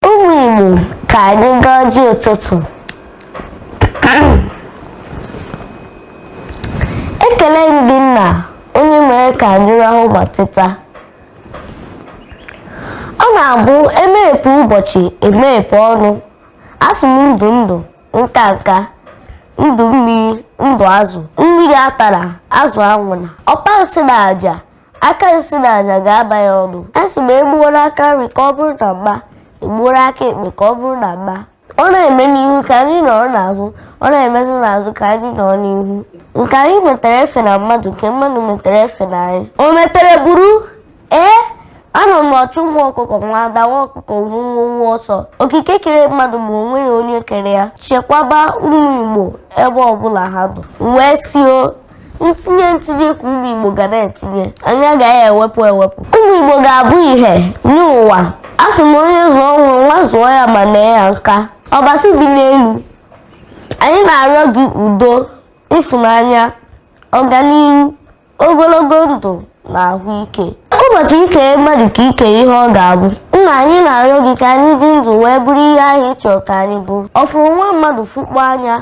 ụmụ Igbo ka anyị gaa ọjị ụtụtụ ekele m gị nna onye mere ka anyị rahụ ma teta ọ na-abụ emeghepụ ụbọchị emeghepụ ọnụ asị m ndụ ndụ nka nka ndụ mmiri ndụ azụ mmiri atana azụ anwụna ọkpa nsi na aja aka nsi na aja ga-aba ya ọnụ asị m egbuoro aka nri ka ọ bụrụ na mma egbuoro aka ekpe ka ọ bụrụ na mma ọ na-eme n'ihu ka anyị nọrọ n'azụ ọ na-emezi n'azụ ka anyị nọrọ n'ihu nke anyị metere efena mmadụ nke mmadụ metere efena anyị o metere buru ee anọ m ọchụ nwa ọkụkọ nwe ada nwa ọkụkọ nwe nwọ nwọ ọsọ okike kere mmadụ ma o nweghị onye kere ya chekwaba ụmụ igbo ebe ọbụla ha nọ wee sio ntinye ntinye ka ụmụ Igbo ga na-etinye anyị agaghị ewepụ ewepụ ụmụ Igbo ga-abụ ihe nye ụwa asị m onye zụọ nwa nwa zụọ ya ma nee ya nka ọbasi bi n'elu anyị na-arịọ gị udo ịfụnanya ọganihu ogologo ndụ na ahụ ike ụbọchị i kere mmadụ ka i kere ihe ọ ga-abụ nna anyị na-arịọ gị ka anyị dị ndụ wee bụrụ ihe ahụ ị chọrọ ka anyị bụrụ ọ fụrụ nwa mmadụ fụkpọ anya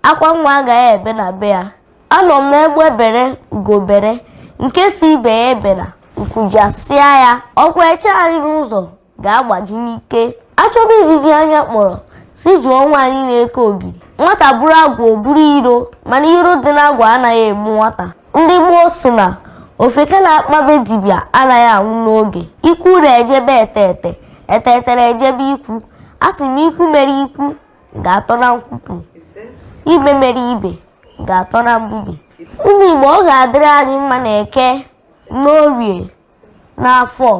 akwa nwa agaghị ebe na be ya anọ m n'egbe bere ugo bere nke sị ibe ya ebela nku jasịa ya ọkwa eche anyị n'ụzọ ga-agbaji n'ike achọba ijiji anya kpọrọ sị jụọ nwaanyị na-eke ogiri nwata buru agwa o buru iro mana iro dị n'agwa anaghị egbu nwata ndị gboo sị na ofeke na-akpa be dibịa anaghị anwụ n'oge ikwu na-eje be etete etete na-eje be ikwu asị m ikwu mere ikwu ga-atọ na nkwupụ ibe mere ibe ga-atọ na mbubi ụmụ Igbo ọ ga-adịrị anyị mma na eke n'orie n'afọ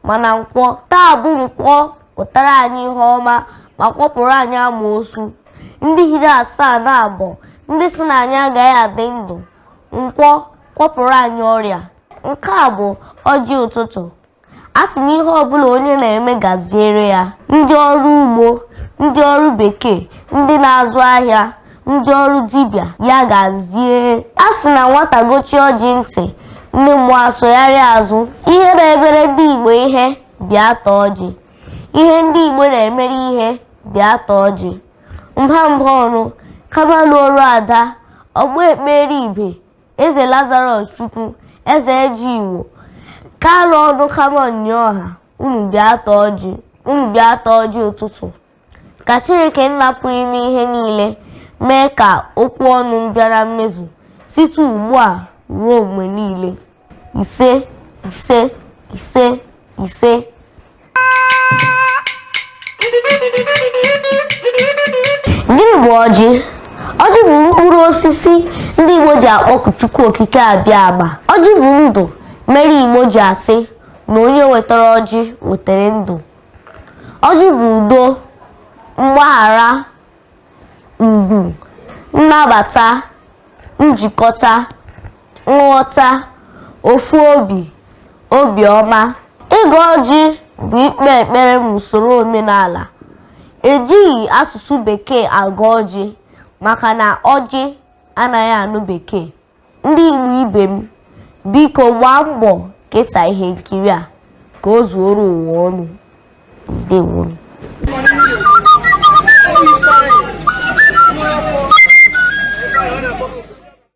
ma na nkwọ taa bụ nkwọ pụtara anyị ihe ọma ma kwọpụrụ anyị amoosu ndị hiri asaa na abọ ndị sị na anyị agaghị adị ndụ nkwọ kwọpụrụ anyị ọrịa nke a bụ ọjị ụtụtụ asị m ihe ọbụla onye na-eme gaziere ya ndị ọrụ ugbo ndị ọrụ bekee ndị na-azụ ahịa ndị ọrụ dibịa ya gazie a sị na nwata gọchie ọjị ntị ndị mmụọ asụgharịa azụ ihe na-emere ndị igbo ihe bịa taa ọjị ihe ndị igbo na-emere ihe bịa taa ọjị mba mba ọnụ Kamalu ọrụ ada ọgbọ ekpere ibe Eze Lazarus Chukwu, Eze Eji Igbo, Kalụ ọnụ Kamọn nye ọha, unu bịa taa ọjị, unu bịa taa ọjị ụtụtụ. Ka Chineke nna pụrụ ime ihe niile mee ka okwu ọnụ m bịa na mmezu site ugbu a ruo mgbe niile. Ise, ise, ise, ise. gịnị bụ ọjị ọjị bụ mkpụrụ osisi ndị igbo ji akpọku chukwu okike abịama ọjị bụ ndụ mere igbo ji asị na onye wetara ọjị wetara ndụ ọjị bụ udo mgbaghara ugwu nnabata njikọta nghọta ofu obi obiọma ịgọ ọjị bụ ikpe ekpere n'usoro omenala ejighị asụsụ bekee agọ ọjị maka na ọjị anaghị anụ bekee ndị Igbo ibe m biko gbaa mbọ kesaa ihe nkiri a ka o zuoro ụwa ọnụ ndewo